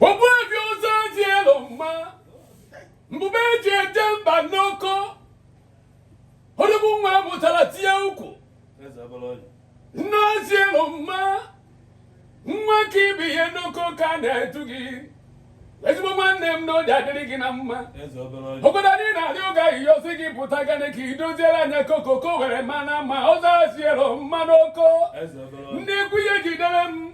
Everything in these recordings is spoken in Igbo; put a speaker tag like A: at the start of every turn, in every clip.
A: Ogbuefi ọzọ ji elu mma mbube eji eje mba n'oko odogwu nwa mụtara tinye ukwu nne ọzọ ji elu mma nwa ka ibe ya n'oko ka na-etu gị ezigbo nwanne m na oji adịrị gị na mma obodo anyị na-arị oge ahụ ihe ozi gị pụta gane ka i doziere anyị oko ka oko were mana mma ọzọ ji elu mma n'oko ndị ikwu ihe jidere m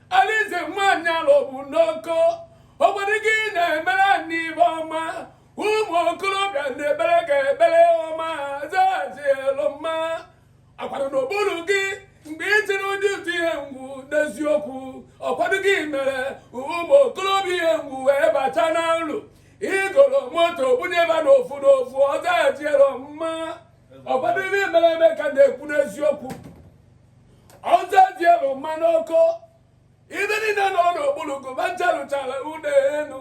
A: Alize nwaanyị alụ bụ n'oko ọkwadogo ị na-emere anyị ibe ọma ụmụ okorobịa na-ebere ka ebere ọma ọzọ ji elu mma akwado n'okpuru gị mgbe ị tiri ụdị ụtụ ihe ngwu n'eziokwu ọkwadogo i mere ụmụ okorobịa ihe ngwu wee bata n'ọrụ i goro moto bunyeba n'ofu n'ofu ọzọ ji elu mma ọkwado ibe mere eme ka na-ekwu n'eziokwu ọzọ ji elu mma n'oko ibe niile nọ n'okpuru gụ ba ncha rụchara ụlọ elu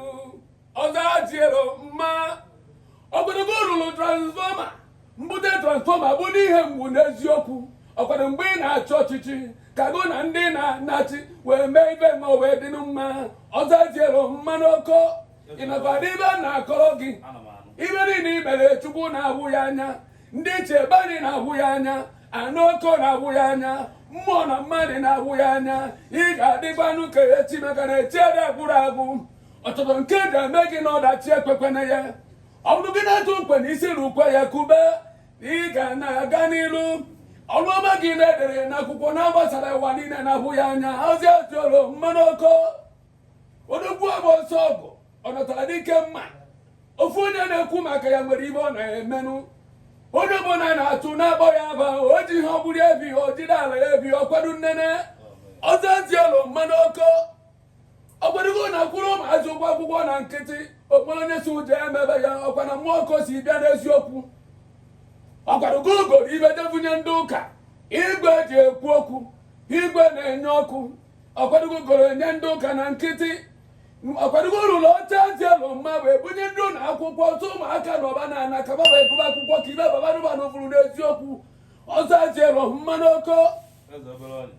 A: ọzọ ji elu mma ọkwadogo rụrụ transfọma mbute transfọma bụ n'ihe mgbu n'eziokwu ọkwado mgbe ị na-achọ ọchịchị ka gụ na ndị na-achị wee mee ibe ma wee dị mma ọzọ ji elu mma n'oko ị nakwa n'ibe m na-akọrọ gị ibe niile i mere chukwu na-ahụ ya anya ndị ichie be anyị na-ahụ ya anya ana oko na-ahụ ya anya mmụọ na mmadụ na-ahụ ya anya ị ga-adịkwanụ ka echi maka na echi ada agwụrụ agwụ ọtụtụ nke e ga-eme gị na ọdachi ekwekwana ya ọ bụrụ gị na-atụ nkwe na isi na ukwe ya kube ị ga na-aga n'iru ọrụ ọma gị na-edere n'akwụkwọ na-agbasara ụwa niile na-ahụ ya anya ọzọ ji elu mma n'oko odogwu agba ọsọ ọgụ ọ natara dike mma ofu onye na-ekwu maka ya nwere ibe ọ na-emenụ onye ọbụla na-atụ na-akpọ ya aba o ji ihe ọgbụrụ ebi o jide ala ya ebi ọkwado nnene ọzọ ji elu mma n'oko ọkwadogo na-akwụrụ ụmụazị ụgwọ akwụkwọ na nkịtị okporo onye si ụjọ emebe ya ọkwa na mmụọ ọkụ si bịa n'eziokwu ọkwadogo goro ibe je vunye ndị ụka igwe eji ekwu okwu igwe na-enye ọkụ ọkwadogo goro nye ndị ụka na nkịtị ọkwadogo rụrụ oche ji elu mma wee bunye ndị ụlọ akwụkwọ ọtụ ụmụaka nọba na ana ka baba egụba akwụkwọ ka ibe baba nụba na ofuru n'eziokwu ọzọ ji elu mma n'oko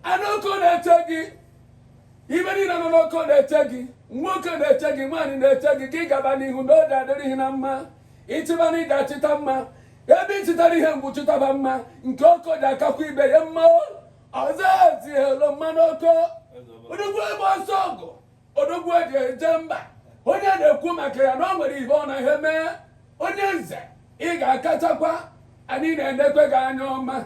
A: ana oko na-eche gị ibe niile nọ n'oko na-eche gị nwoke na-eche gị nwaanyị na-eche gị ka ị gaba n'ihu na ọ ga-adịrị gị na mma ị chịba na ị ga-achịta mma ebe ị chịtara ihe mgbu chịtaba mma nke oko ji akakwa ibe ya mma Nze Azielumma n'oko odogwu ịgba ọsọ ọgụ odogwu eji eje mba onye na-ekwu maka ya na ọ nwere ihe ọ na-eme onye nze ị ga-akachakwa anyị na-enekwe gị anya ọma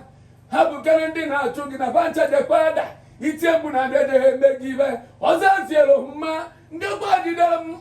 A: ha bụkere ndị na-achụ gị na bancha jekwa ada itie mgbu na adịdịghị eme gị ibe Nze Azielumma ndị gwa jidere m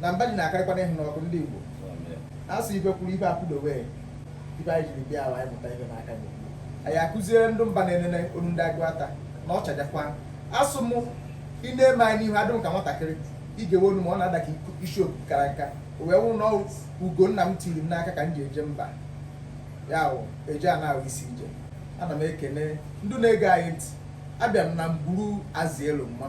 B: na mba ji na-akarịkwana ịhụ n'ọkụ ndị Igbo a sị ibe kwụrụ ibe akwụdowe ibe anyị jiri bịa ala anyị mụta ibe n'aka gị anyị akụziere ndị mba na-enene onu ndị Aguata na ọ chajakwa asụ m ị na-eme anyị n'ihu adị m ka nwatakịrị ị ga-ewe onu ma ọ na-ada ka isi oku kara nka o wee wụ na ugo nna m tiri m n'aka ka m ji eje mba ya wụ eje ana wụ isi ije ana m ekene ndị na-ege anyị ntị abịa m na mgburu Azielumma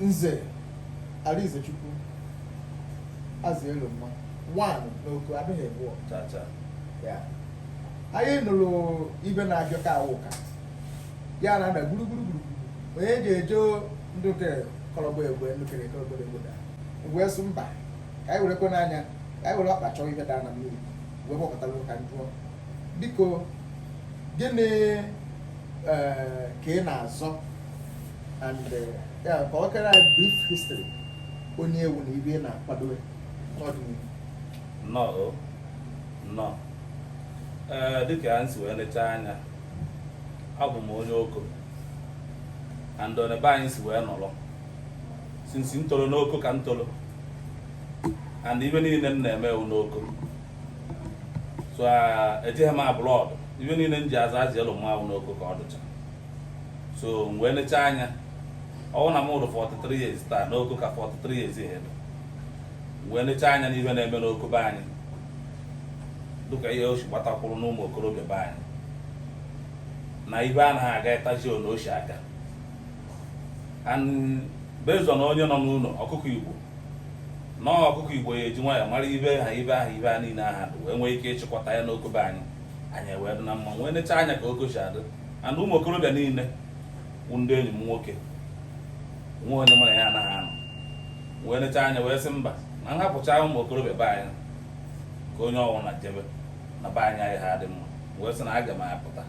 B: Nze Arizechukwu Azielumma one n'oko adịghị abụọ Cha cha.
C: Ya.
B: anyị nụrụ ibe na-abịa ka awụ ka ya na ada gburugburu gburugburu onye ji eje ndị nke kọrọgba egbe ndị kere kọrọgba egbe da wee sụ mba ka anyị werekwe n'anya ka anyị were ọkpa chọọ ibe daa na mmiri wee gbakọtara ka m jụọ biko gịnị eh, ka ị na-azọ and eh, ya kọkere anyị brief history onye ị wụ na ibe ị na-akwado n'ọdịnihu
C: nnọọ nnọọ ee dịka m si wee lechaa anya abụ m onye oko and on ebe anyị si wee nọrọ since m toro n'oko ka m toro and ibe niile m na-eme wụ n'oko so ah, ejeghị m abroad ibe niile m ji aza Azielumma wụ n'oko ka ọ dụcha so m wee lechaa anya ọwụ na mụrụ 43 years taa n'oko ka 43 years ahead m wee lechaa anya n'ihe na-eme n'oko be anyị dịka ihe o si gbatakwuru n'ụmụ okorobịa be anyị na ibe anaghị aga ịtaji na o si aga and based on onye nọ n'ụlọ ọkụkọ igbo na ọkụkọ igbo ya eji nwayọ mara ibe ha ibe ahụ ibe a niile aha dị wee nwee ike ịchịkọta ya n'oko be anyị anyị wee dị na mma wee necha anya ka oko si adị and ụmụ okorobịa niile bụ ndị enyi m nwoke nwe onye mụ na ya anaghị anọ wee necha anya wee sị mba na nhapụcha ụmụ okorobịa be anyị ka onye ọwụna jebe na be anyị ayaghị adị mma wee sị na aga m apụta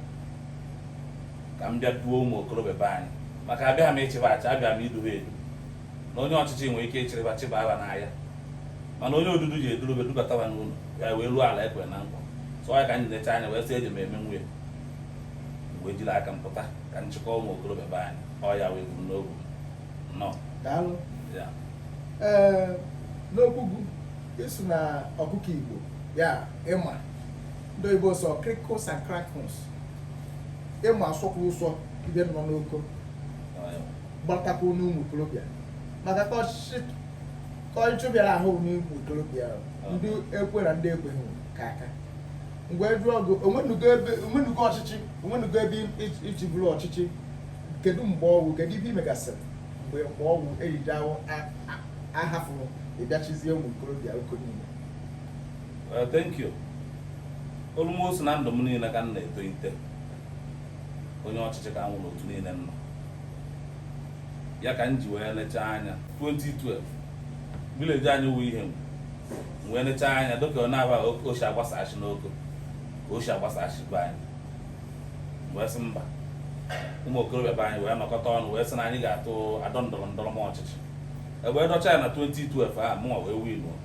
C: ka m bịa duo ụmụ okorobịa be anyị maka abịaghị m ịchịba achị abịa m iduba edu na onye ọchịchị nwere ike ịchịrịba chịbaba n'ọhịa mana onye odudu ji edurube dubatawa n'ụlọ ya wee ruo ala ekwe na nkwa so ya ka m ji necha anya wee sị eji m eme nwunye wee jiri aka m pụta ka m chịkọ ụmụ okorobịa be anyị ọ ya wee buru n'obu nnọọ
B: daalụ ee n'okwu gị ị sụ na ọkụkọ igbo ya ị ma ndị oyibo sọ krikos and krakos ị ma asọkwa ụsọ ibe nọ n'oko gbatakwa n'ụmụ okorobịa maka ka ọchịchị ka ọchịchị bịara ahụ n'ụmụ okorobịa ndị ekwe na ndị ekweghị ka aka m wee jụọ gị o nwenugo ebe o nwenugo ọchịchị o nwenugo ebe i ji- i ji bụrụ ọchịchị kedu mgbe ọ wụ kedu ibe i megasịrị mgbe mgbe ọ wụ e jide ahụ a- a- ahafụrụ ị bịa chịzie ụmụ okorobịa oko niile
C: Eh, thank you almost na ndụ m niile ka m na-etolite onye ọchịchị ka m wụ n'otu niile m nọ ya ka m ji wee lechaa anya 2012 village anyị wụ Ihengwu wee nechaa anya dịka ọ na-aba oshi agbasachi n'oko ka oshi agbasachi be anyị wee sị mba ụmụ okorobịa be anyị wee nọkọta ọnụ wee sị na anyị ga-atụ adọ ndọrọ ndọrọ ọchịchị e wee dọchaa ya na 2012 a mụnwa wee winuo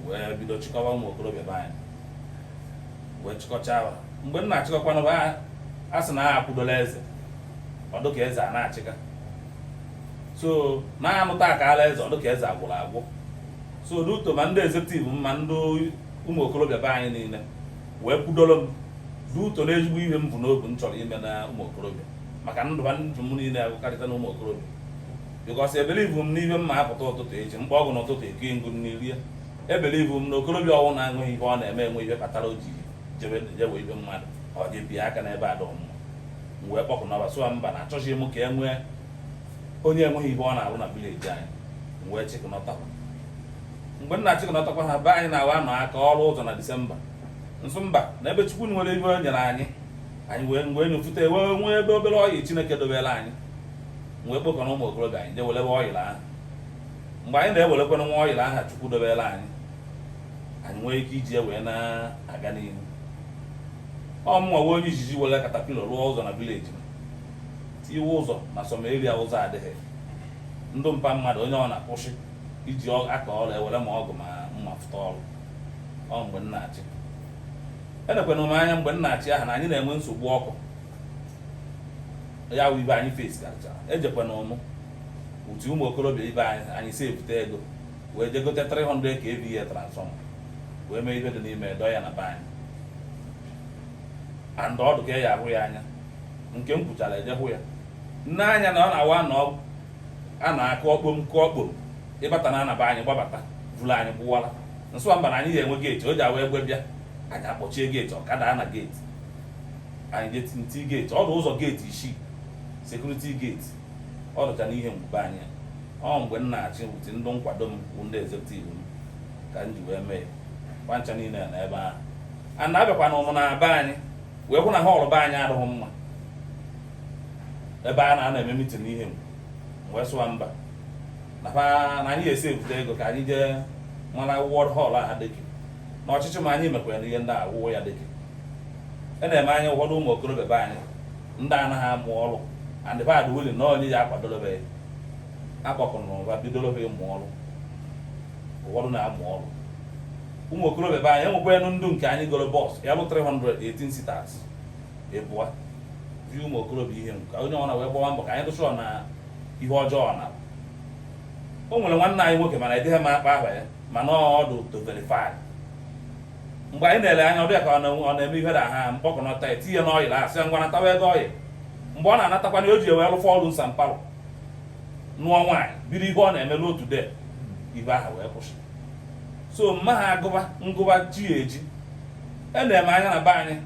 C: wee bido chịkọwa ụmụ okorobịa be anyị wee chịkọcha ha mgbe m na-achịkọkwanụ a sị na a kwụdola eze ọ dụ ka eze a na-achịka so na-anụta ka ala eze ọ dụ ka eze agwụrụ agwụ so n'uto ma ndị executive ma ndị ụmụ okorobịa be anyị niile wee kwudoro m n'uto na ezigbo ihe m bụ n'obu m chọrọ ime na ụmụ okorobịa maka ndụ ndụ m niile agụkarịta na ụmụ okorobịa because ebelivu m n'ihe m ma apụta ụtụtụ eji mkpa ọgwụ n'ụtụtụ eke ngụ n'irie ebelivu m na okorobịa ọwụna nwe ihe ọ na-eme enwe ihe kpatara o ji jebe jewe ibe mmadụ ọ ga-ebi aka n'ibe adọ mma m wee kpọkọnọ ha sụwa mba na achọghị m ka e nwee onye enweghị ihe ọ na-arụ na village anyị m wee chịkọnọtakwa mgbe m na-achịkọnọtakwa ha be anyị na-awa anọ aka arụ ụzọ na December m sụ mba na ebe chukwu nwere ihe o nyere anyị anyị wee wee nyofute wee nwee ebe obere oil chineke dobere anyị wee kpọkọnọ ụmụ okorobịa anyị jee welebe oil ahụ mgbe anyị na-ewerekwana nwa oil ahụ chukwu dobere anyị anyị nwee ike iji wee na-aga n'ihu ọ mụnwa wụ onye izizi were caterpillar rụọ ụzọ na village m tiwe ụzọ na some area ụzọ adịghị ndụ mpa mmadụ onye ọ na-akwụsị iji ọ- aka arụ e were ma ọgụ ma mma fụta ọrụ ọ mgbe m na-achị enekwana m anya mgbe m na-achị ahụ na anyị na-enwe nsogbu ọkụ ya wụ ibe anyị face karịchara ejekwana ụmụ youth ụmụ okorobịa be anyị anyị si ebute ego wee je gote 300 kVA transformer wee mee ibe dị n'ime dọ ya na be anyị and ọ dụ ka ya ahụ ya anya nke m kwuchara eje hụ ya nne anya na ọ na-awa na a na-akụ ọkpom kụ ọkpom ịbata na ana be anyị gbabata vuru anyị kwụwara m sụ wa mba na anyị ga-enwe geeti o ji awa egbe bịa anyị akpọchie geeti ọkada na geeti anyị jetinti geeti ọ dụ ụzọ geeti isii sekuriti geeti ọ dụcha n'ihe mgbe anyị ọ mgbe m na-achị with ndị nkwado m bụ ndị ezekutiv m ka m ji wee mee kwa ncha niile na ebe ahụ a na-abịakwa na ụmụnna be anyị wee hụ na họọlụ be anyị adịghị mma ebe a na-anọ eme mitin ihe wee sụ wa mba na anyị esi ebute ego ka anyị jee mana wọd họl ahụ dịka na ọchịchị m a anyị mekwara ihe ndị a wụwo ya dịka e neme anya ụfọdụ ụmụ okorobịa be anyị ndị anaghị amụ ọrụ and bad willing na onye ya akwadorobe akpọkọrọ ụba bidorobe ịmụ ọrụ ụfọdụ na-amụ ọrụ ụmụ okorobịa be anyị e nwekwanụ ndụ nke anyị goro bọs ya bụ 318 sitas ebụa ji ụmụ okorobịa ihe ka onye ọna wee gbawa mbọ ka anyị dụchụọ na ihe ọjọọ na o nwere nwanne anyị nwoke mana edịghị m akpa aha ya mana ọ dụ to verify mgbe anyị na-ele anya ọbịa ka ọ na-eme ihe na ha mkpọkọnọta etinye n'ọyịl a sị ngwa natawa ego ọyịl mgbe ọ na-anatakwa na o ji wee rụfọ ọrụ nsampalụ nụọ nwaanyị biri ihe ọ na-eme n'otu de ihe aha wee kwụsị so ma a gụba ngụba chi ejie e neme anya na be anyị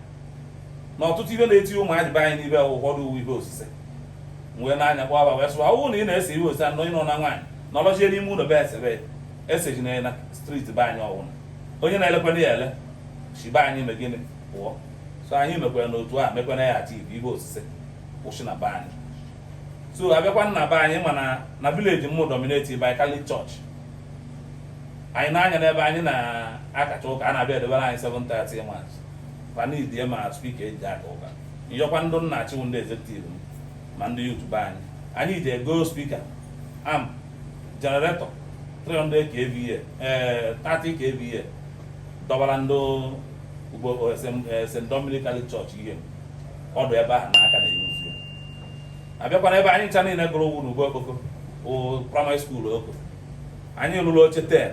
C: na ọtụtụ ihe na-eti ụmụazị be anyị n'ihe ụfọdụ wụ ihe osise wee nee anya kpọba wee sụ wa ọ bụrụ na ị na-ese ihe osise anọ ịnọ na nwaanyị nọlọchie n'ime ụlọ be esebe esejina na striti be anyị ọ wụ na onye na-elekwana ya ele si be anyị me gịnị pụọ so anyị mekwara n'otu a mekwana ya ati ihe ihe osise kwụsị na be anyị so a bịakwa na be anyị mana na vileji m wụ dominated by Catholic church anyị nee anya n'ebe anyị na-akacha ụka a na-abịa edebere anyị 7:30 mas fan idie ma spika eji aka ụka m yọkwa ndị m na-achị wụ ndị ezektiv m ma ndị yut be anyị anyị jee go spika amp jeneretọ 300 kva ee 30 kva dọbara ndị ugbo st dominic catholic church ihe ka dụ ebe ahụ na a ka na-eyi a bịakwa na ebe anyị ncha niile gụrụ wụ n'ugbo okoko praịmarị skuul oko anyị lụrụ oche ten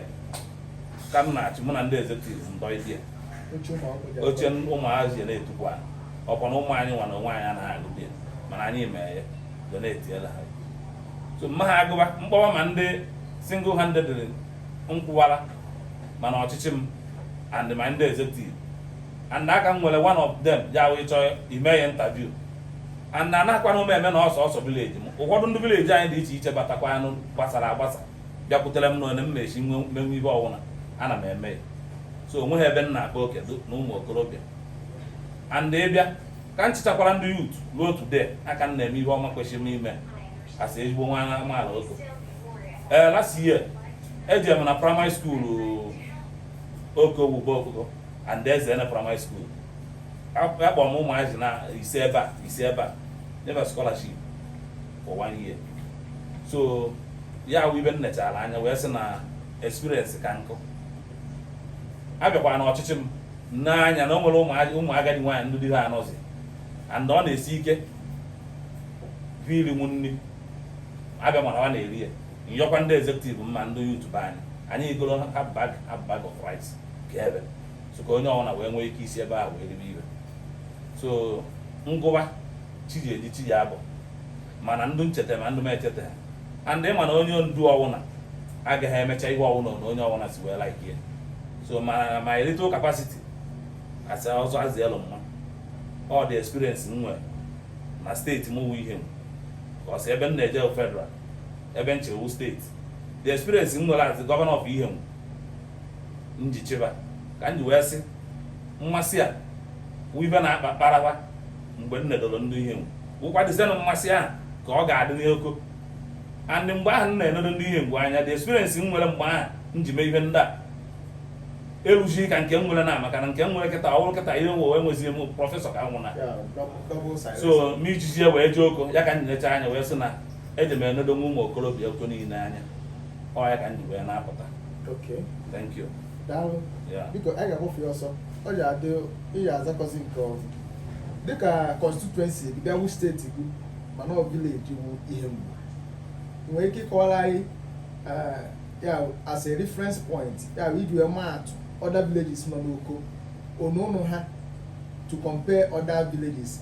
C: ka m na-achị mụ na ndị ezektiv ndọ idie oche ụmụazị na-etukwu anyị ọkwa na ụmụ anyị nwa na onwe anyị anaghị agụ di mana anyị mee ya donetiela ha so ma a gụba m kpọwa ma ndị single handed m kwụwara ma na ọchịchị m and my ndị ezektiv and a ka nwere one of them ya wee chọọ ime ya interview and na anakwana m eme na sọsọ village m ụfọdụ ndị village anyị dị iche iche batakwanụ gbasara agbasa bịakwutere m n'onwe m na-esi menwe ihe ọwụna ana m eme ya so onweghị ebe m na-akpa oke na ụmụ okorobịa and ịbịa ka m chịchakwara ndị youth ruo today aka m na-eme ihe ọma kwesịrị m ime as ezigbo nwa amaala oko ee eh, last year eji m na primary school oko bụ okoko and ezene primary school akpọrọ m ụmụazị na ise ebe a ise ebe a nye va scholarship for one year so ya wụ ibe m nechara anya wee sị na experience ka nkụ abịakwa na ọchịchị m n'anya na o nwere ụmụ- ụmụ agadi nwaanyị ndị di ha anọzi and ọ na-esi ike va irinwu nri abịa mana ọ na-eri ya nyọkwa ndị executive m ma ndị youth be anyị anyị egoro ha bag ha bag of rice keebe so ka onye ọbụla wee nwee ike isi ebe ahụ wee ribe ibe so ngụwa chi ji eji chi ji abọ mana ndụ ncheta ma ndụ m echeta ha and ịma na onye ndu ọwụna agaghị emecha ihe ọwụna na onye ọwụna si wee like ya so my little capacity as ọzọ azị elu mma all the experience m nwere na steeti m wụ ihengwu because ebe m na-eje federal ebe m chịwu steeti the experience m nwere as the governor of ihengwu m ji chịba ka m ji wee sị mmasị a wụ ife na-akpa kparawa mgbe m nedoro ndị ihengwu wụkwadịzienụ mmasị ahụ ka ọ ga-adị n'oko and mgbe ahụ m na-enedo ndị ihengwu anya the experience m nwere mgbe ahụ m ji mee ihe ndị a eruzighị ka nke m nwere na maka na nke m nwere kịta ọ bụrụ kịta ihe nwe enwezighị m prọfesọ ka m wụ na Yeah, double, double size. so m ijizi ya wee jee oko ya ka m necha anya wee sị na eji m enedonwu ụmụ okorobịa oko niile anya ọ ya ka m ji wee na-apụta Okay. thank you daalụ Yeah.
B: biko anyị ga-akpọfe ya ọsọ ọ ji adị ị ya-azakwazi nke ọzọ dịka constituency gị bịa wu steeti gị mana ọ village wụ ihengwu ị nwere ike ịkọwara anyị eh, ya wụ as a reference point ya wụ iji wee maa atụ other villages nọ n'oko onu ụnụ ha to compare other villages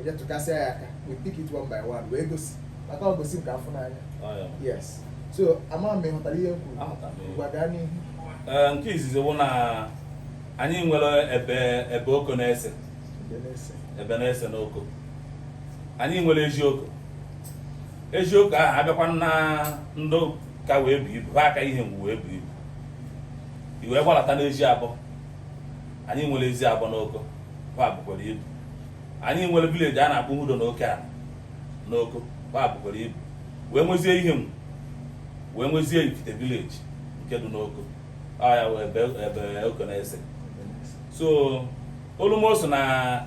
B: eje tụkasịa ya aka we pick it one by one wee gosi maka ọ gosi nke afụ n'anya yes so ama m ịghọtara ihe m kwuru ngwa gaa n'ihu eh, nke izizi
C: wụ na anyị nwere ebe ebe oko n'ise ebe n'ise n'oko anyị nwere ezioko ezioko ahụ abịakwa na ndụ ka wee bu ibu ha aka ihengwu wee bu ibu iwee gbalata n'eziabo anyị nwere eziabo n'oko ha bụkwara ibu anyị nwere village a na-akpọ Udo na Oke ala n'Oko gbaa bụkwara ibu wee nwezie Ihengwu wee nwezie Ifite village nke dị n'Oko ọ ya wee ebe ebe Oko na-ese so olumo so na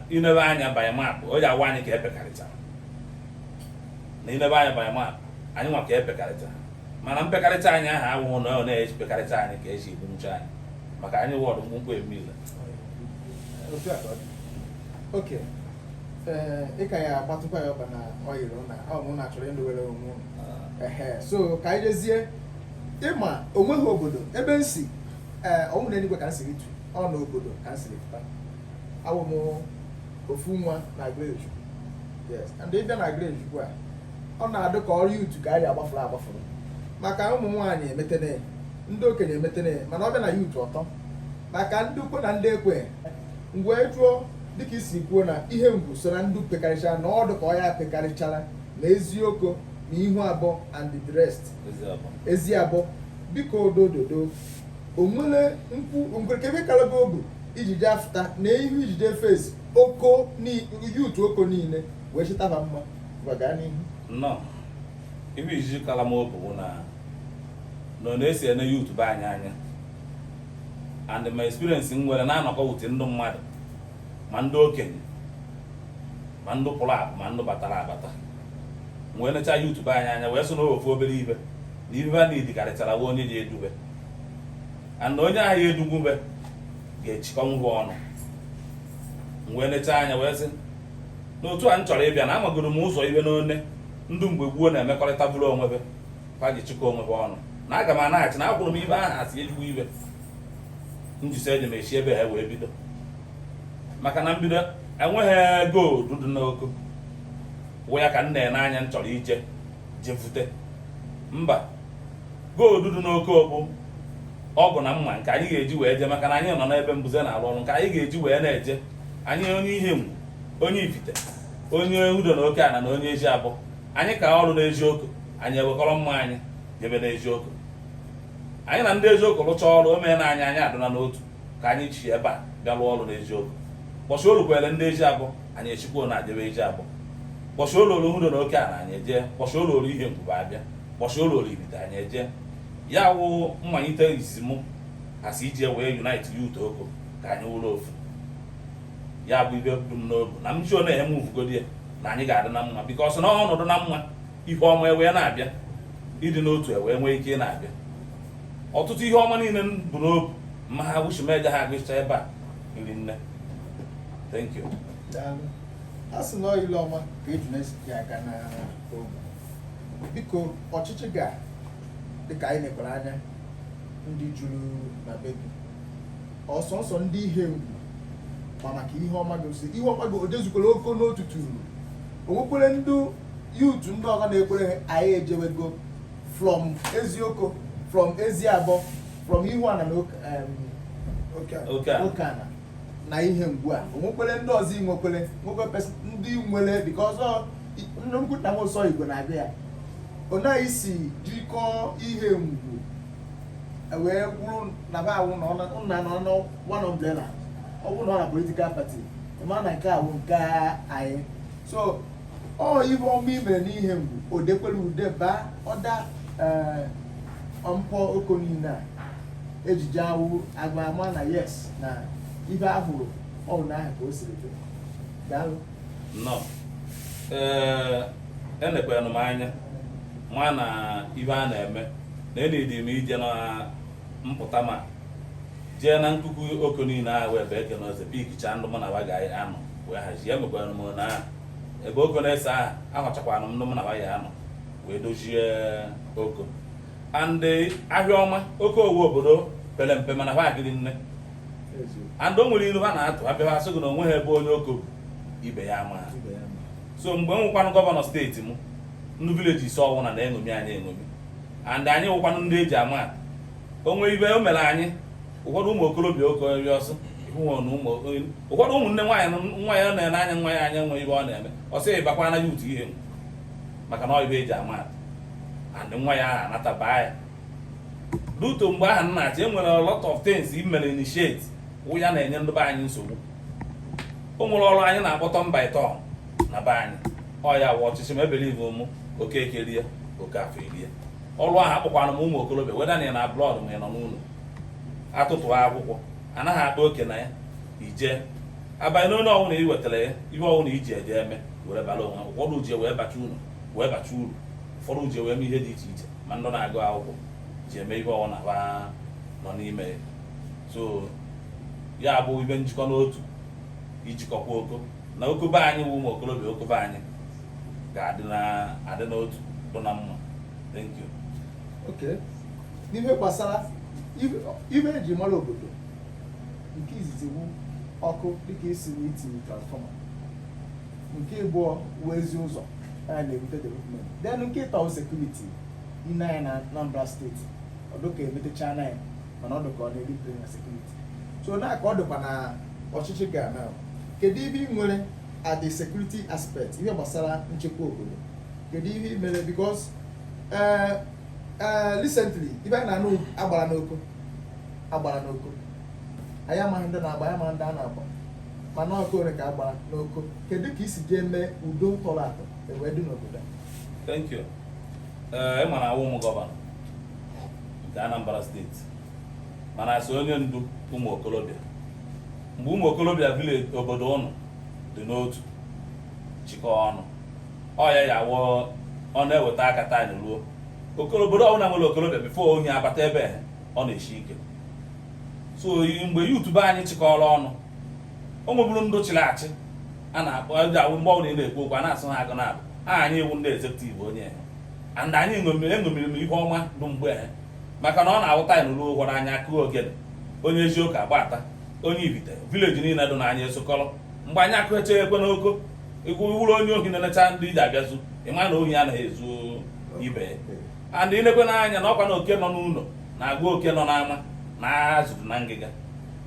C: i nebe anya by map o ji awa anyị ka epekarịchara na i nebe anya by map anyị nwa ka epekarịchara mana mpekarịcha anyị ahụ awụghụ na ọ na-epekarịcha anyị ka eji egbu nche anyị maka anyị wụ ndụ mkpụmkpụ emile
B: okay ee ịka ya agbatụkwa ya ọba na ọ yiri na ọ mụ na chọrọ ịlụwere onwe unu. ehe so ka anyị jezie ị ma onweghị obodo ebe m si ee ọ wụghị na enigwe ka m siri tu ọ na obodo ka m siri pụta awụ m ofu nwa na greju yes and ị bịa na greju ugbu a ọ na-adụ ka ọ wụ youth ka anyị agbafuru agbafuru maka ụmụ nwaanyị emetene ndị okenye emetene mana ọ bịa na youth ọ tọ maka ndụ kwe na ndị ekwe m wee jụọ dịka i si kwuo na Ihengwu so na ndụ pekarịchara na ọ dụ ka ọ ya pekarịchara na Ezioko na ihu abụọ and the rest Eziabọ biko odododo onwere nkwu onwere kebe kala gụ obu iji jee afụta na ihu iji jee face Oko youth Oko niile wee chịtaba mma gbaga n'ihu nnọọ
C: ihe o ji kala m obu bụ na nọ na-esi ene youth be anyị anya and my experience m nwere na-anọkọ with ndị mmadụ ma ndị okenye ma ndị pụrụ apụ ma ndị batara abata wee nechaa youth be anyị anya wee sị na ofu obere ibe na ibe a na-edi karịchara wụ onye ji edube and onye ahụ ya edugwube ga-achịkọnwu ba ọnụ wee nechaa anya wee sị n'otu a m chọrọ ịbịa na amagoro m ụzọ ibe n'one ndụ mgbe gboo na-emekọrịta bụrụ onwebe ha ji chịkọ onwe ha ọnụ na aga m anaghachi na akwụrụ m ibe ahụ asị ezigbo ibe njisi eji m echi ebe ha wee bido maka na mbido enweghị gold dị n'Oko wụ ya ka m na-ene anya m chọrọ ije jevute mba gold dị n'Oko bụ ọgụ na mma nke anyị ga-eji wee je maka na anyị nọ n'ebe mbuze na-arụ ọrụ nke anyị ga-eji wee na-eje anyị onye Ihengwu onye Ifite onye Udo na Oke ana na onye Eziabọ anyị ka ọrụ n'Ezioko anyị ewekọrọ mma anyị jebe n'Ezioko anyị na ndị Ezioko rụcha ọrụ o mee na anyị anyị adịla n'otu ka anyị si ebe a bịa rụọ ọrụ n'Ezioko bọsụ o lukwere ndị Eziabọ anyị echikwuo na-ejebe Eziabọ bọsụ o lulu Udo na Oke ala anyị eje bọsụ o lulu Ihengwu ba abịa bọsụ o lulu Ifite anyị eje ya wụ mmalite izizi mụ asị iji wee unite youth Oko ka anyị wụrụ ofu ya bụ ibe bụ m n'obu na m ji ọ na-enye m uvugodi ya na anyị ga-adị na mma because na ọnọdụ na mma ihe ọma ewee na-abịa ịdị n'otu ewee nwee ike na-abịa ọtụtụ ihe ọma niile bụ n'obu ma ha wuchimeja ha agụcha ebe a iri nne thank you
B: a sị na ile ọma ka ejuna si aga na ogwu biko ọchịchị gị a dịka anyị nekwara anya ndị juru na be ọ sọsọ ndị ihengwu ma maka ihe ọma gị osi ihe ọma gị o jezukwere oko n'otu turu o nwekwere ndị youth ndị ọzọ na-ekwere anyị ejewego from ezioko from eziabọ from ihuana na okeana na ihengwu a o nwekwere ndị ọzọ inwekwere nwekwere ndị nwere dịka ọzọ nnukwu nna m ụsọ igwe na-abịa ya ọ naghị si jikọọ ihengwu e wee kwuru na ba awụ na nna nọ na one umbrella ọ bụrụ na ọ na political party ma na nke awụ nke anyị so ọ ive ọma i mere n'ihengwu o dekwere ude baa ọda eh, mpọ oko niile a eji eje agba ama na yes na ive ahụrụ ọrụ na ahụ ka o siri dị daalụ nnọọ
C: enekwanụ m anya ma na ive a na-eme na any day m ije na mpụta ma jee na nkuku oko niile ahụ ebe eke na ọzọ pikichaa ndị mụ na wa ga-anọ wee hazie emekwara m na ebe oko na-ese aha ahọchakwana m ndị mụ na wa ya-anọ wee dozie oko and ahịa ọma oko wụ obodo pere mpe mana ha agịrị nne and o nwere ilu ha na-atụ abịa ha sị gị na onwe ha ebe onye oko bi ibe ya amaha so mgbe m nwụkwanụ gọvanọ steeti m ndị village ise ọwụna na-eṅomi anyị eṅomi and anyị wụkwanụ ndị eji ama atụ o nwe ive o mere anyị ụfọdụ ụmụ okorobịa oke onye ọsọ ụfọdụ ụmụnne nwaanyị nwa ya na-ene anya nwa ya anya nwee ive ọ na-eme ọ sị bakwa na youth ihe maka na ọ ive eji ama atụ and nwa ya ahụ anataba ya ruto mgbe ahụ m na-achị enwere a lot of things i mere initiate wụ ya na-enye ndị be anyị nsogbu o nwere ọrụ anyị na-akpọtọ mba ịtọ na be anyị ọ ya wụ ọchịchị m a believe ụmụ okeke rie okafọ erie ọrụ ahụ akpọkwana m ụmụ okorobịa whether na ị nọ abroad ma ị nọ n'ụlọ atụtụ akwụkwọ anaghị akpa oke na ya ije abanye n'onye ọwụna ị wetara ya ihe ọwụna i ji eje eme were bara onwe ụfọdụ ji wee bacha unu wee bacha uru ụfọdụ ji wee mee ihe dị iche iche ma ndị na-agụ akwụkwọ ji eme ihe ọwụna ha nọ n'ime ya so ya bụ ive njikọ n'otu ịchịkọkwa Oko na Oko be anyị wụ ụmụ okorobịa Oko be anyị ga-adị n'otu bụ na mma thank you okay
B: n'ihe gbasara ibe eji mara obodo nke izizi wu ọkụ dịka isi na itinye transfọma nke ịbụọ wụ ezi ụzọ a na-ebute development then nke ịtọ sekuriti i nee anya na Anambra steeti ọ dụ ka emetechaa na ya mana ọ dịka ọ na-erite na sekuriti so na ka ọ dịkwa na ọchịchị gị a kedu ibe ị nwere at the security aspect ihe gbasara nchekwa obodo kedu ihe ị mere because eh, eh, recently ibe anyị na-anụ a gbara n'Oko a gbara n'Oko anyị amaghị ndị na-agba anyị amaghị ndị a na-agba mana ọkụ ole ka a gbara n'Oko kedu ka i si jee mee udo tọrọ atọ ewee dị n'obodo a thank you ee
C: ị ma na awụ m gọvanọ nke Anambra steeti mana as onye ndu ụmụ okorobịa mgbe ụmụ okorobịa vileji obodo ụnụ dị n'otu chịkọọ ọnụ ọ ya ya wụọ ọ na-eweta aka taa anyị ruo Okoro- obodo ọbụla nwere okorobịa bifo ohi abata ebe a, ọ na-esi ike so yi- mgbe yuutu be anyị chịkọrọ ọnụ o nweburu ndị chịrị achị a na-akpọ ndị awụ mgbe ọbụla ị na-ekwu okwu a na-asụ ha agụ na-abụ aha anyị wụ ndị ezekutiv onye ha and anyị ṅomiri eṅomiri ihe ọma dị be ha maka na ọ na-awụta anyị n'ụlọ ụgwọ anyị akụọ ogene onye Ezioko agbata onye Ibite vileji niile dị n'anya ezukọrọ mgbe anyị akụecha ekwe n'Oko ị wụrụ onye ohi na-enecha ndị i ji abịa ezu ị ma na ohi anaghị ezu ibe ya and i lekwe anya na ọkwa na oke nọ n'ụlọ na-agwa oke nọ n'ama na azụ dụ na ngịga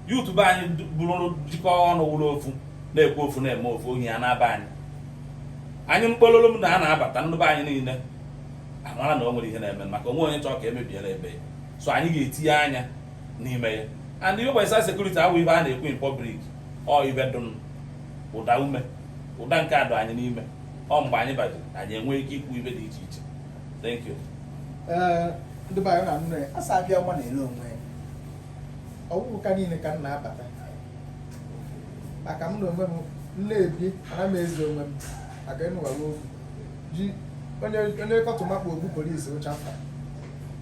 C: yuutu be anyị bụrụ jikọọ ọnụ wụrụ ofu na-ekwu ofu na-eme ofu ohi ya na-aba anyị anyị mkpololo m na a na-abata ndị be anyị niile amara na o nwere ihe na-eme maka onwe onye chọọ ka e mebiere be ya so anyị ga-etinye anya n'ime ya and ihe gbasara sekuriti awụ ibe a na-ekwu in public ọ ibe dụn ụda ume ụda nke adụ anyị n'ime ọ mgbe anyị bajiri anyị enwee ike ikwu ibe dị iche iche thank you Ee,
B: ndị be anyị na-anụ ya a sị abịa ọma na-ele onwe ya ọ bụghị ka niile ka m na-abata maka m na onwe m na-ebi ana m eze onwe m maka ịnụwawa okwu ji onye kọtụma kpụ ogbu polisi ụcha mkpa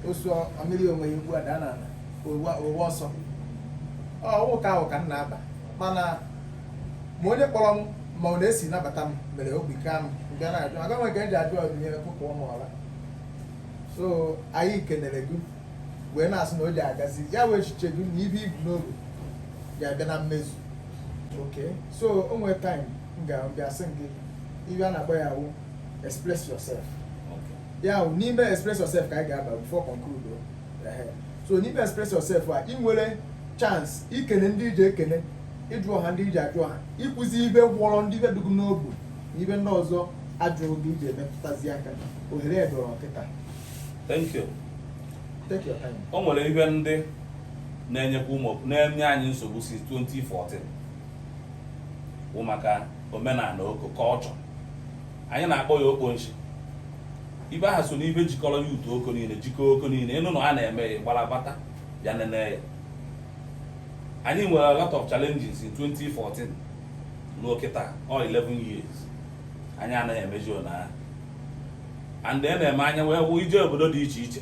B: osu ọmịrị onwe ya ugbu a daa n'ala ụwa ụwa ọsọ ọ wụ ka ahụ ka m na-aba mana ma onye kpọrọ m ma ọ na-esi nabata m mere obi ka m bịa na-ajụ aga m nke m ji ajụ ọdịnihu kụkụọ m ọla so anyị kenere gị wee na-asị na o ji agazi ya wee echiche gị na ibe i bu n'obi ga-abịa na mmezu okay so o nwere time m ga-asị gị ibe a na-akpọ ya wụ express yourself ya wụ n'ime express yourself ka anyị ga-aba before conclude so n'ime express yourself a i nwere chance ikene ndị i ji ekene ịjụ ọha ndị i ji ajụ ọha ikwuzi ibe gwọrọ ndị ibe dị gị n'obi na ibe ndị ọzọ ajụrụ gị iji emepụtazi aka ohere edoro kịta o nwere ihe
C: ndị na-enyekwa ụmụ na-enye anyị nsogbu si 2014 bụ maka omenala oko culture anyị na-akpọ ya okponshi ibe aha so n'ibe jikọrọ youth oko niile jikọọ oko niile ị nụ na a na-eme ya gbara bata ya nene ya anyị nwere a lot of challenges in 2014 ruo kịta ọ 11 years anyị anaghị emeji na and ihe na-eme anyị iwe wụ i je obodo dị iche iche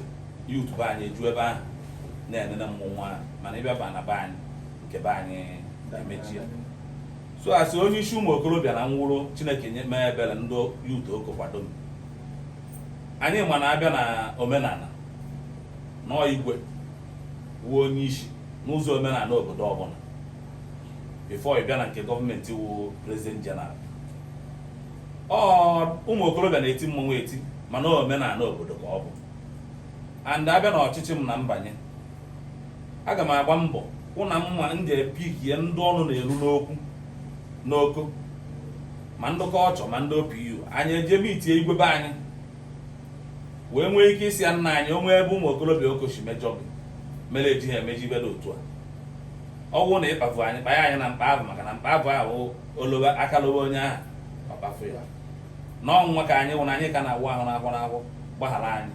C: youth be anyị eju ebe ahụ na-enene mmọnwụ ahụ mana ị bịa ba na be anyị nke be anyị emechie so as onye isi ụmụ okorobịa na ọ wụrụ chineke mee ebere ndị youth oko kwado m anyị ma na a bịa na omenala na ọ igwe wụ onye isi n'ụzọ omenala obodo ọbụla before ị bịa na nke gọọmenti wụ president general ọ ụmụ okorobịa na-eti mmọnwụ eti mana omenala obodo ka ọ bụ and a bịa na ọchịchị m na m banye aga m agba mbọ hụ na mma m ga-epikie ndị ọnụ na-eru n'okwu n'oko ma ndị culture ma ndị opu anyị eje meetie igwe be anyị wee nwee ike ịsị ya nna anyị o nwee ebe ụmụ okorobịa oko shi mejọọ gị mere e jighị emeji ibe dị otu a ọ bụrụ na ị kpavu anyị kpanye anyị na mkpa abụ maka na mkpa abụ ahụ olowe akalowe onye ahụ ọ kpafu ya n'ọnwa ka anyị wụ na anyị ka na-awụ ahụ n'afọ n'afọ gbaghara anyị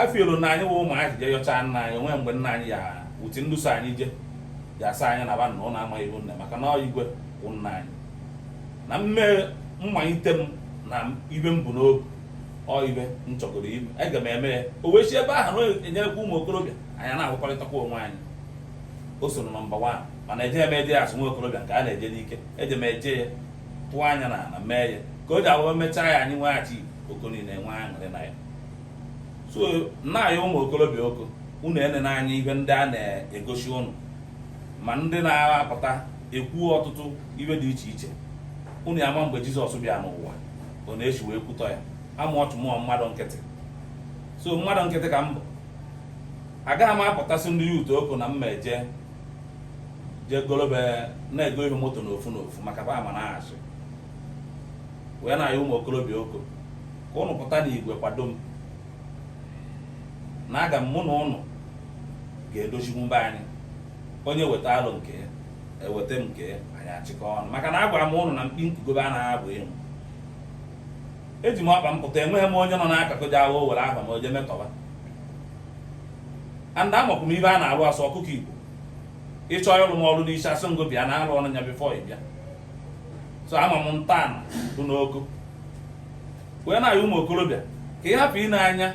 C: afiolu na anyị wụ ụmụ anyị je yọchaa nna anyị o nwee mgbe nna anyị youth ndị so anyị je ya asa anyị na ba na ụlọ amaghị iwu nne maka na ọ igwe wụ nna anyị na mme mmalite m na ibe m bu n'obi ọ ibe m chọgoro ime aga m eme ya o wee si ebe ahụ na enyerekwa ụmụ okorobịa anyị na-ahụkọrịtakwa onwe anyị o so na number 1 mana eje m eje as nwa okorobịa nke a na-eje n'ike eje m eje ya tụọ anya na ala mee ya ka o ji awụwa mechaa ya anyị nweghachi oko niile enwee aṅụrị na ya so nna anyị ụmụ okorobịa oko unu enene anya ihe ndị a na-egosi unu ma ndị na-apụta ekwu ọtụtụ ibe dị iche iche unu ama mgbe jizọs bịa n'ụwa ọ na-esi wee kwutọ ya ama ọchụ mụọ mmadụ nkịtị so mmadụ nkịtị ka m bụ agaghị m apụta sị ndị youth oko na mma eje jee golobe na-ego ihe moto n'ofu n'ofu maka ba ama na-achị wee na-ayọ ụmụ okorobịa oko ka ụnụ pụta n'igwe kwado m na aga m mụ na ụnụ ga-edozikwu be anyị onye weta alo nke ya eweta m nke ya anyị achịkọ ọnụ maka na agwara m ụnụ na mkpi nkugobe anaghị abụ ịnwụ eji m ọkpa m pụta enweghị m onye nọ n'akụkụ ji agha o were aha m oje metọba and amakwu m ibe a na-alụ asị ọkụkọ igbo ịchọ ịlụ m ọrụ n'isi asị ngo bịa na-alụ ọrụ nya before ị bịa so ama m ntọala dị n'oko wee na-ayọ ụmụ okorobịa ka ị hapụ ịna anya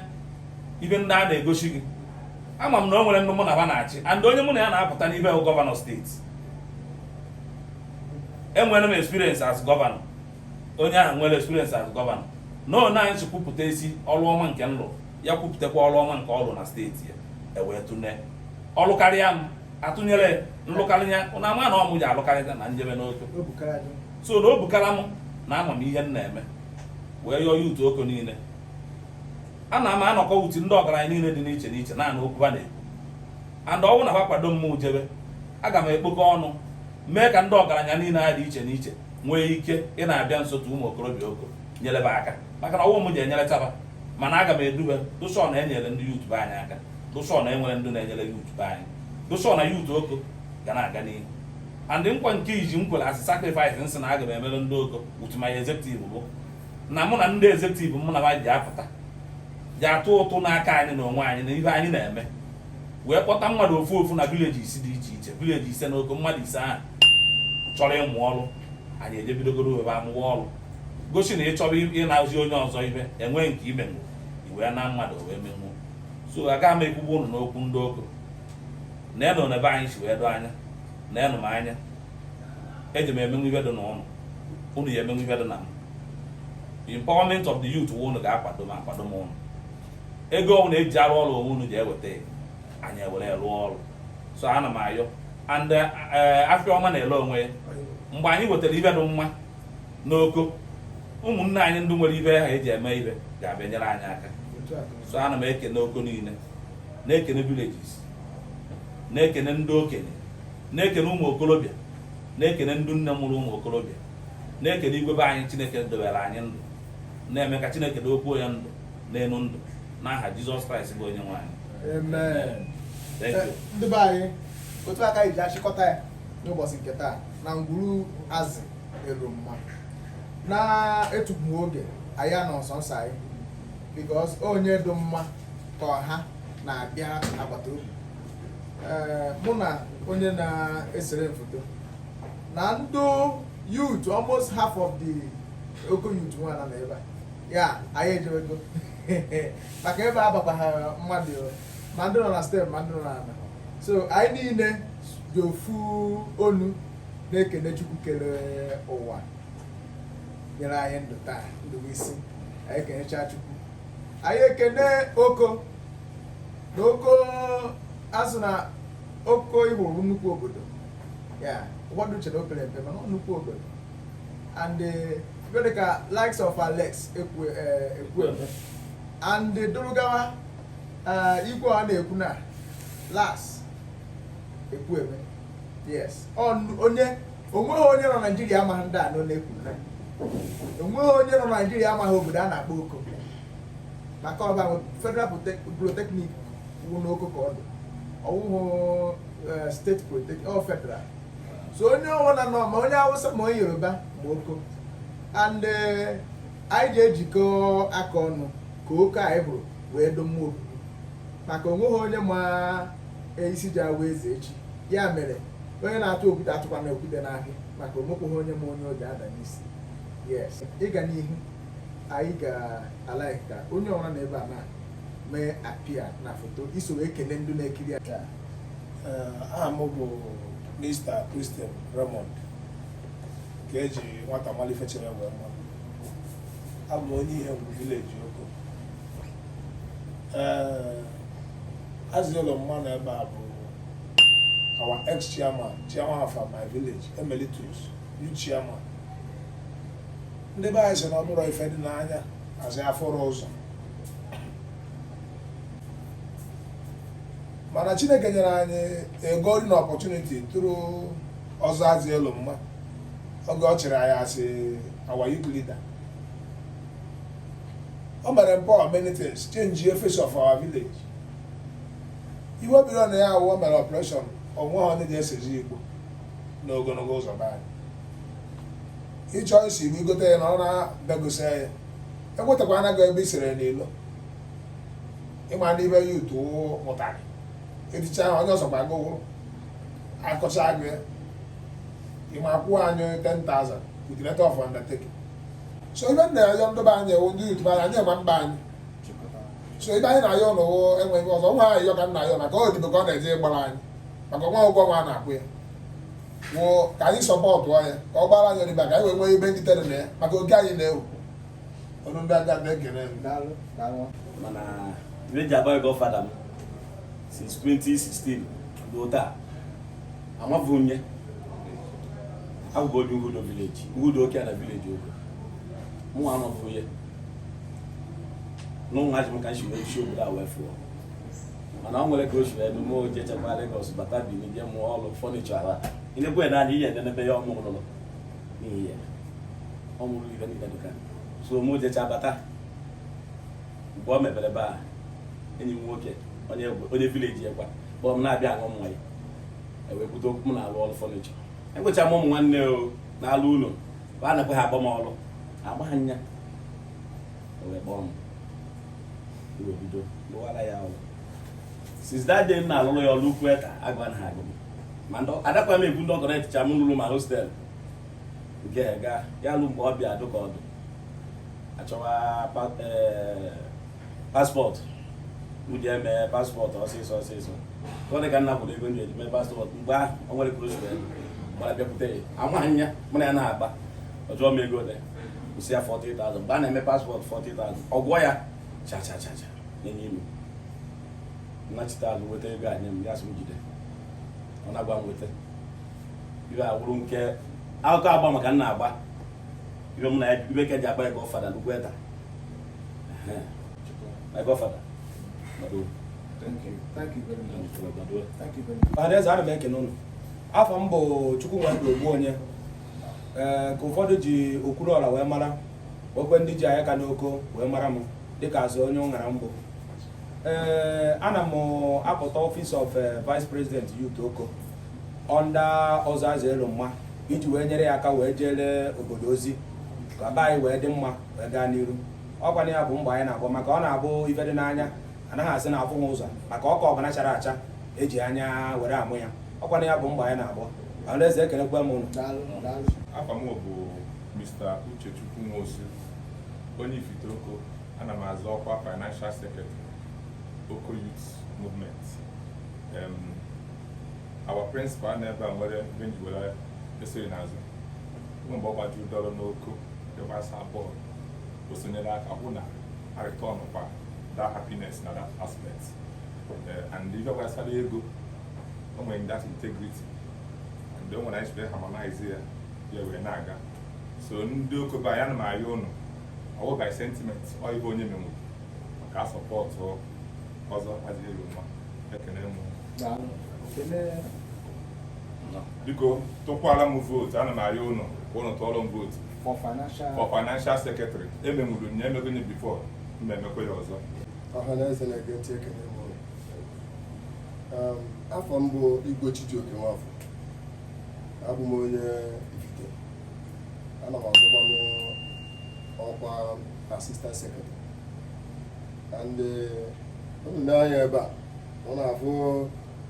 C: ibe ndị a na-egosi gị ama m na o nwere ndị mụ na ha na-achị and onye mụ na ya na-apụta n'ibe gọvanọ steeti enwere m experience as gọvanọ onye ahụ nwere experience as gọvanọ na ọ na anyị sị kwupụta isi ọrụ ọma nke m lụ ya kwupụtakwa ọrụ ọma nke ọ rụ na steeti ya ewee tụne ọ lụkarịa m atụnyere m lụkarị ya ụnụ ama na ọ mụ ji alụkarịta na m jebe n'oko so na obi kara m na ama m ihe m na-eme wee yọọ youth oko niile ana m anọkọ utu ndị ọgaranya niile dị n'iche n'iche naanị okwu ha na-ekwu and ọ wụ na ha kwado m jebe aga m ekpokọ ọnụ mee ka ndị ọgaranya niile a dị iche n'iche nwee ike ị na-abịa nso tu ụmụ okorobịa oko nyelebe aka maka na ọ wụ m ji enyere taba mana aga m edube dụsọ na enyere ndị youth be anyị aka dụsọ na enwere ndị na-enyere youth be anyị dụsọ na youth oko ga na-aga n'ihu and nkwa nke iji m kwere as sacrifice m sị na aga m emere ndị oko youth ma ya executive bụ na mụ na ndị executive mụ na ha ji apụta ji atụ ụtụ n'aka anyị na onwe anyị na ihe anyị na-eme wee kpọta mmadụ ofu ofu na village ise dị iche iche village ise na oko mmadụ ise ahụ chọrọ ịmụ ọrụ anyị eje bidogoro ebe amụwa ọrụ gosi na ị chọrọ ịnazi onye ọzọ ibe enweghị nke imenwu iwe na mmadụ wee menwu so agaghị m ekwugbu ụnụ n'okwu ndị oko neenụ na ebe anyị si wee doo anya neenụ m anya eji m emenwu ibe dị na ụnụ ụnụ ya emenwu ibe dị na m empowerment of the youth wụ ụnụ ga-akwado m akwado m ụnụ ego ọbụla eji arụ ọrụ ọ wụ unu ji eweta ya anyị ewere rụọ ọrụ so ana m ayọ and eh, eh, afịa ọma na-ele onwe ya mgbe anyị wetara ibe dị mma n'oko ụmụnne anyị ndị nwere ibe ha eji eme ibe ga-abịa nyere anyị aka so ana m ekene oko niile na-ekene villages na-ekene ndị okenye na-ekene ụmụ okorobịa na-ekene ndị nne mụrụ ụmụ okorobịa na-ekene igwe be anyị chineke dobere anyị ndụ na-eme ka chineke dokwuo ya ndụ n'elu ndụ n'aha Jizọs Kraịst bụ onye nwe anyị amen ndị be
B: anyị otu a ka anyị ji achịkọta ya n'ụbọchị nke taa na ngwuru Azielomma na-etupu oge anyị anọ nsọ nsọ anyị because onye dị mma ka ọha na-abịa n'agbata obi mụ na onye na-esere foto na ndị youth almost half of the Oko youth nwa nọ ebe a ya anyị ejewego maka ebe a bakwaghị mmadụ ma ndị nọ na steepụ ma ndị nọ na ala so anyị niile ji ofu ọnụ na-ekene chukwu kere ụwa nyere anyị ndụ taa ndụ isi anyị ekenecha chukwu anyị ekene Oko na Oko azụ na Oko ị hụrụ nnukwu obodo ya ụfọdụ chere o pere mpe mana ọ nnukwu obodo and eh, ife dịka likes of Alex Ekwe eh, Ekwueme and dịrị gawa eh, igwe a na-ekwu na Laz Ekwueme yes Ọ- onye onweghị onye nọ naijiria amaghị ndị a nọ na-ekwu na onweghị onye nọ naijiria amaghị obodo a na-akpọ Oko maka ọ ebe a federal Polytech- polytechnic wụ n'Oko ka ọ dị ọ wụhụ eh, steeti polytechnic ọ federal so onye ọwụla nọ ma onye Awụsa ma onye Yoruba Oko and eh, anyị ga-ejikọ aka ọnụ ka Oko anyị hụrụ wee dị mma obodo maka onweghị onye ma eh, isi ga-awụ eze echi ya mere onye na-atụ okwute atụkwana okwute n'ahịa maka onwekweghị onye ma onye ọ ga-ada n'isi yes ịga n'ihu anyị ga-alike ka onye ọwụla nọ ebe a na mee appear na foto iso wee kelee ndị na-ekiri aka
D: aha m bụ Mr. Christian Raymond ka eji nwata malụ ife chere wee ma abụ m onye Ihengwu village Oko ee Azielomma nọ ebe a bụ our ex chairman chairman of my village emeritus youth chairman ndị be anyị sị na ọ bụrụ ife dị n'anya azị afọrọ ụzọ mana chineke nyere anyị a golden opportunity through Ọzọ Azielomma oge ọ chịrị anyị as our youth leader o mere empower many things change the face of our village ife o bido na ya awụ o mere operation onweha ndị ga-esezi igbo n'ogologo ụzọ be anyị ị chọọ ise igbo i gote ya naa na be gị see ya e nwetakwana gị ebe i sere n'ilo ịma n'ibe ya utu mụtara eticha ha onye ọzọ gbago ụgwụrụ akọcha gị ịma akwụọ anyị 10,000 with letter of undertaking so ife m na-ayọ ndị be anyị ewu ndị youth be anyị ma mba anyị so ife anyị na-ayọ n'ụwụ enweghị ọzọ nwa anyị yọ ka m na-ayọ maka odibo ka ọ na-eje ịgbara anyị maka nwa ụgwọ nwa na-akwụ ya wụ ka anyị sọpọtụ ya ka ọ gbara anyị odibo ka anyị wee nwee ife ndị tere na ya maka oge anyị na-ewu ọnụ ndị aga na-ekele mana
E: reji agbaghị gọfada m since 2016 ruo taa amaghị onye agụgụ onye Uhudo village Uhudo Okeana village Oko mụ amaghị onye n'ụmụ ajị m ka m si wee si obodo a wee fụọ mana ọ nwere ka o si wee mee o jechekwa Lagos bata Benin bịa mụọ ọrụ furniture ala inekwe na adị ihe nenebe ya ọmụ ụlọ n'ihi ya ọ mụrụ ife ndị dịka so mụ jecha bata mgbe o mebere ebe a enyi m nwoke onye onye village ekwa kpọrọ m na-abịa aṅụ mmanya ewee kwute okwu m na-alụ ọrụ furniture egwecha m ụmụ nwanne o na-alụ ụlọ bụ a nakwa ha agba m ọrụ agba ha nya ewee kpọọ m wee bido lụwara ya ọrụ since that day m na-alụrụ ya ọrụ ukwu eta agwa na ha agụ m ma ndị adakwa m egwu ndị ọgọrọ eticha m lụrụ ma hostel nke ga ya lụ mgbe ọ bịa dụ ka ọ dụ achọwa eh, passport eji eme passport ọsịsọ ọsịsọ ọ dị ka nna kwụrụ ego m ji eje ime passport mgbe ahụ o nwere ka o zuru ego gbara bịakwute ya amaghị anya mụ na ya na-agba ọ jụọ m ego ole ka ọ wụ m sị ya 40,000 mgbe a na-eme passport 40,000 ọ gụọ ya cha cha cha cha enye ilu nnachite azụ weta ego a nye m ya sị m jide ọ na-agwa m weta ife awụrụ nke akụkọ agba maka nna agba ibe mụ na ya ibe ka ji agba ya gọfada nnukwu eta my
F: gọfada Adaeze ana m ekene ụnụ afa m bụ Chukwunwadị Ogbuonye ee ka ụfọdụ ji Okwuluọra wee mara okwe ndị ji anya ka n'Oko wee mara m dịka azụ onye ụṅara mbụ ee ana m apụta office of vice president youth Oko under ọzọ azụ elu mma iji wee nyere ya aka wee jeere obodo ozi ka be anyị wee dị mma wee gaa n'iru ọkwa na ya bụ mgba anyị na-agba maka ọ na-abụ ife dị n'anya anaghị asị na afụghị ụzọ maka ọka ọbụla chara acha eji anya were ama ya ọkwa na ya bụ mgba anyị na-agba Adaeze ekelekwa m ụnụ afa m bụ
G: Mr. Uchechukwu Nwosu onye Ifite Oko ana m azọ ọkwa financial secretary Oko Youth Movement our principal na ebe a nwere ebe nji were esiri n'azụ nwe mgbe ọ gbajuru dọrọ n'oko nke gbasa bọọlụ o sonyere aka hụ na a returnkwa that happiness na that aspect eh, and ife gbasara ego o nwere that integrity and o nwere anyị siri harmonize ya ya wee na-aga so ndị oko be anyị ana m ayọ ụnụ ọwụ by sentiment ọ ibe onye menwuru ka a sọpọtụ ọzọ azielomma ekene m biko tụkwara m vootu ana m arịọ ụnụ ka ụnụ tụọrọ m vootu for financial for financial secretary emenwuru m ya emego m ya before m ma-emekwa ya ọzọ ọha na eze
H: na-ege ntị ekene m ụnụ. Um, afa m bụ igwe chijioke nwafọ abụ m onye ifite ana m azụkwanụ ọkwa assistant secretary and ụnụ nee anya ebe a ụnụ afụ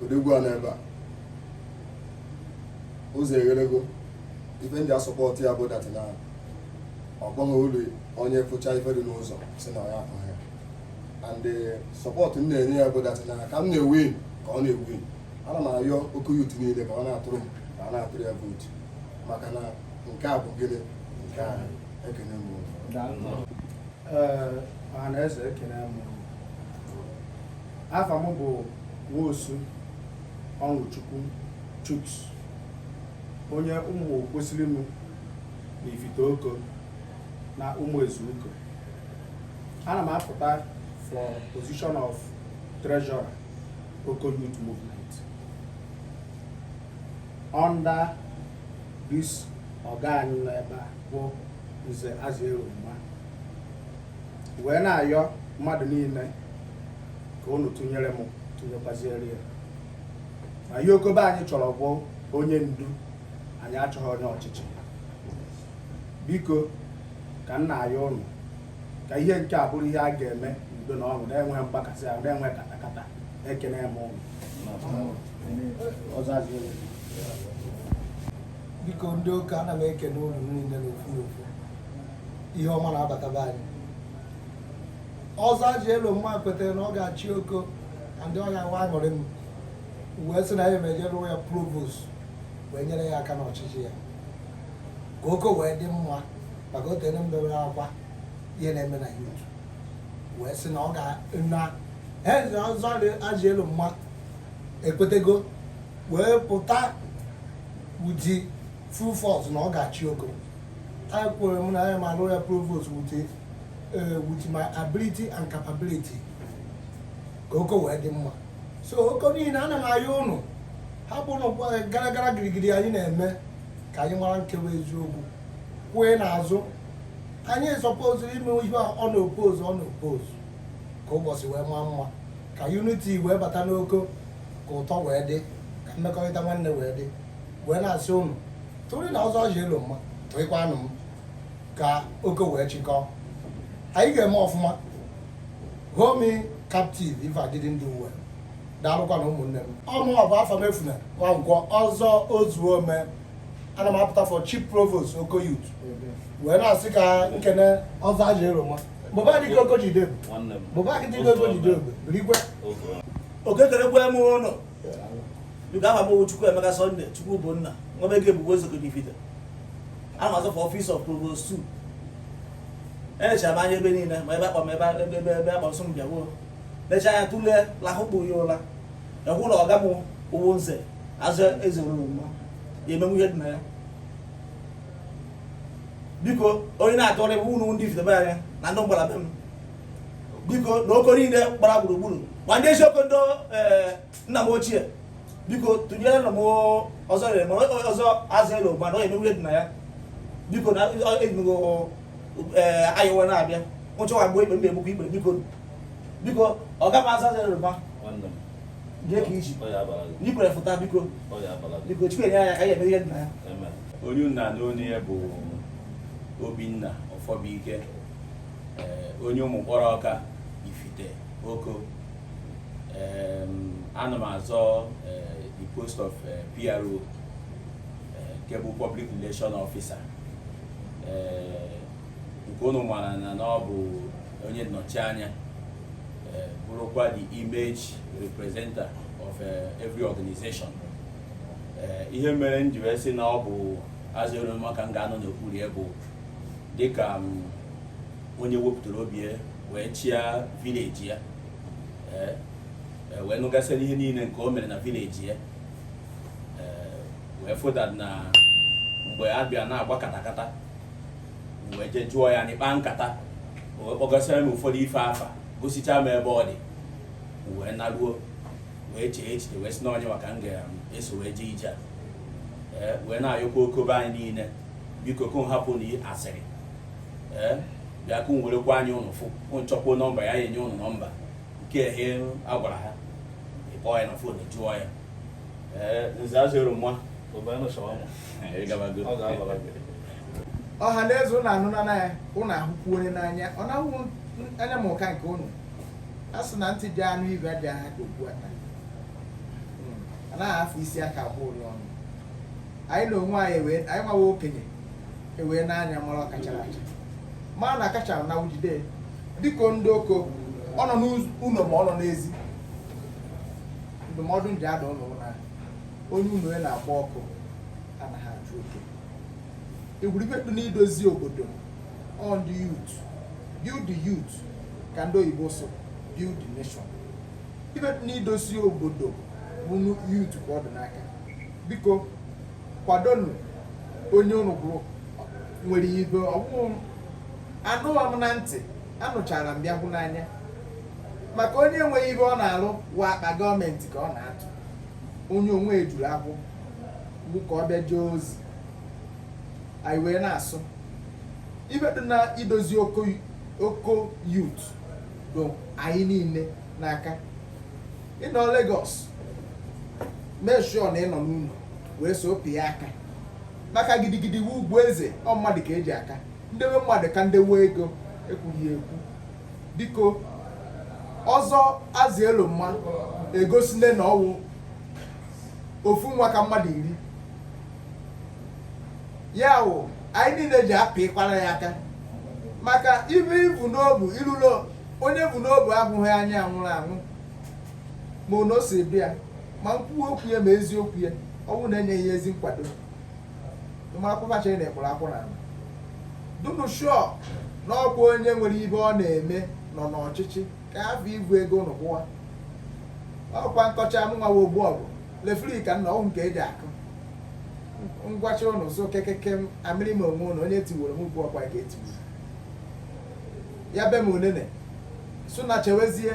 H: odogwu a n'ebe a ụzọ eghelego ife m ji asọpọtụ ya bụ that na ọ bụghị ụdị onye fụcha ife dị n'ụzọ sị na ya ahụ ya and sọpọtụ m na-enye ya bụ that na ka m na-ewin ka ọ na-ewin ana m ayọ oko youth niile ka a na-atụrụ m ka a na-atụrụ ya vootu maka na nke a bụ gịnị nke anyị ekene m unu. Daalụ nụ. Ee,
B: ọha na eze ekene m unu. afa m bụ nwosu ọnụchukwu chuks onye ụmụ kwesịrị m na ifite oko na ụmụ ezuuko ana m apụta for position of treasurer oko youth movement under this ọga anyị nọ ebe a bụ nze azielomma wee na-ayọ mmadụ niile ka unu tụnyere m tụnyekwaziere ya na ihe oko be anyị chọrọ bụ onye ndu anyị achọghị onye ọchịchị biko ka m na-ayọ unu ka ihe nke a bụrụ ihe a ga-eme n'udo na ọṅụ na-enweghị mgbakasị ahụ na-enweghị katakata ekene m ụnụ
I: biko ndị oko ana m ekene unu niile n'ofu n'ofu ihe ọma na-abataba anyị ọzọ azielomma kwetara na ọ ga-achị oko na ndị ọhịa wa aṅụrị m wee sị na ya emejere ya provost wee nyere ya aka n'ọchịchị ya ka oko wee dị mma maka o tere m bewere akwa ihe na-eme na youth wee sị na ọ ga na Nze Ọzọ Azielomma ekwetego wee pụta with full force na ọ ga-achị Oko anyị kwere m na ya ma alụ ya provost with eh, with my ability and capability ka oko wee dị mma so oko niile ana m ayọ ụnụ hapụnụ eh, gara gara girigiri anyị na-eme ka anyị mara nke wụ eziokwu queue n'azụ anyị suppose ime ihe unopposed unopposed ka ụbọchị wee maa mma ka unity wee bata n'oko ka ụtọ wee dị ka mmekọrịta nwanne wee dị wee na-asị ụnụ tụrụnụ Ọzọ Azielomma tụrịkwanụ m ka oko wee chịkọọ anyị ga-eme ọfụma hold me captive if I didn't do well daalụkwanụ ụmụnne m ọ mụ bụ Afamefuna Nwankwọ Ọzọ Ozuomee ana m apụta for chief provost Oko Youth wee na-asị ka m kene Ọzọ Azielomma mụba dị ka Oko jidebe mụba dị ka Oko jidebe birikwe
E: ekelekwa m ụnụ biko aha m Chukwuemeka Sunday Chukwubụnna nwa ego ebubo Ezioko n'Ifite ana m azọ for office of provost 2 elechara m anya ebe niile ma ebe akpa m ebe ebe ebe akpa nsọ m bịaruo lecha anya tụlee lahụkpụ ya ụla ahụ na ọga m wụ Nze Azielomma ya emenwu ihe dị na ya biko onye na-atụrụ bụ ụnụ ndị Ifite be anyị na ndị mgbara be m biko na oko niile gbara gburugburu ma ndị Ezioko ndị eh, nna m ochie biko tụnyerenụ m ọzọ rere ma Ọzọ Azielomma na ọ ya emenwu ihe dị na ya biko na ejigo eh, ayọwa na-abịa nwụchọwa mgbe ikpe m na-egbukwa ikpe biko biko ọga m Ọzọ Azielomma Jide ka i ji. Ọ ya abara gị. Na i kwere fụta biko. Ọ ya abara gị. Biko Chukwu enyere ya aka ya eme ihe dị na ya. Onye ụnụ na-anụ onu ya bụ Obinna Ọfọbụike onye ụmụ mkpọrọ ọka Ifite Oko ana m azọ the post of PRO nke bụ Public Relation Officer nke ụnụ mara na ọ bụ onye nnọchi anya eh, bụrụkwa the image representer of eh, every organization eh, ihe mere m ji wee sị na ọ bụ Azielomma ka m ga-anọ n'okpuru ya bụ dịka mm, onye wepụtara obi ya wee chịa vileji ya wee nụgasịrị ihe niile nke o mere na vileji ya wee fụta na mgbe a bịa na-agba katakata wee je jụọ ya n'ịkpa nkata wee kpọgasịra m ụfọdụ ife afa gosichaa m ebe ọ dị wee naruo wee chee echiche wee sị na onye maka m ga-eso wee jee ije a wee na-ayọkwa Oko be anyị niile biko ka hapụ na asịrị ee bịa ka werekwa anyị ụnụ fụ nchọkwa nọmba ya enye ụnụ nọmba nke ehe agwara ha ịkpọ ya na fon jụọ ya ee Nze Azielomma
B: ọha na eze ụnụ anụna ya ụnụ ahụkwu onye n'anya ọ na-ahụ anya m ụka nke ụnụ a sị na ntị ja-anụ ibe dị aha ka okpu ata hmm. a naghị afọ isi aka agba ụlịọ ọnụ anyị na onwe anyị wee anyị nwawa okenye e wee n'anya mara ọka chara acha mara na akachara na ujide dịka ndị Oko ọ nọ n'ụlọ ma ọ nọ n'ezi ndụmọdụ m ji adụ ụnụ wụ na onye ụnọ e na-agba ọkụ anaghị achụ oke ị wụrụ ibe dị n'idozi obodo ọ ndị youth build the youth ka ndị oyibo sụ build the nation ibe dị n'idozi obodo ụmụ youth ka ọ dị n'aka biko kwadonu onye unu hụrụ nwere ibe ọ bụghị anụwa m na ntị anụchara m bịa hụ n'anya maka onye enweghị ibe ọ na-alụ wa akpa gọọmenti ka ọ na-atụ onye onwe ejuru akwụ bụ ka ọ bịa jee ozi anyị wee na-asụ ibe dị n'idozi Oko Oko youth dị anyị niile n'aka ị nọ Lagos mee sure na ị nọ n'ụlọ wee so pịa aka maka gidigidi wụ ugwu eze ọ mmadụ ka e ji aka ndewe mmadụ ka ndewe ego ekwughị ekwu biko ọzọ Azielomma egosile na ọ wụ ofu nwa ka mmadụ iri ya wụ anyị niile ji apịkwara ya aka maka ibe i bu n'obu ilulo onye bu n'obu ahụghị anya nwụrụ anwụ ma ụnọ o si bịa ma nkwuwa okwu ya ma eziokwu ya ọ wụ na e nye ya ezi nkwado ịmakwụba chere na ịkpụrụ akwụ na ala dunu sure na ọkwa onye nwere ibe ọ na-eme nọ n'ọchịchị ka afọ ibu ego ụnụ kwụwa ọkwa nkọcha mụnwa wa ogbu ọgụ lefri ka nna ọhụ nke e ji akụ ngwacha ụnụ sụ kekeke m amịrị m onwe ụnụ onye tiworo m ugbu ọkwa ka e tiworo ya be m onene sụ na chewezie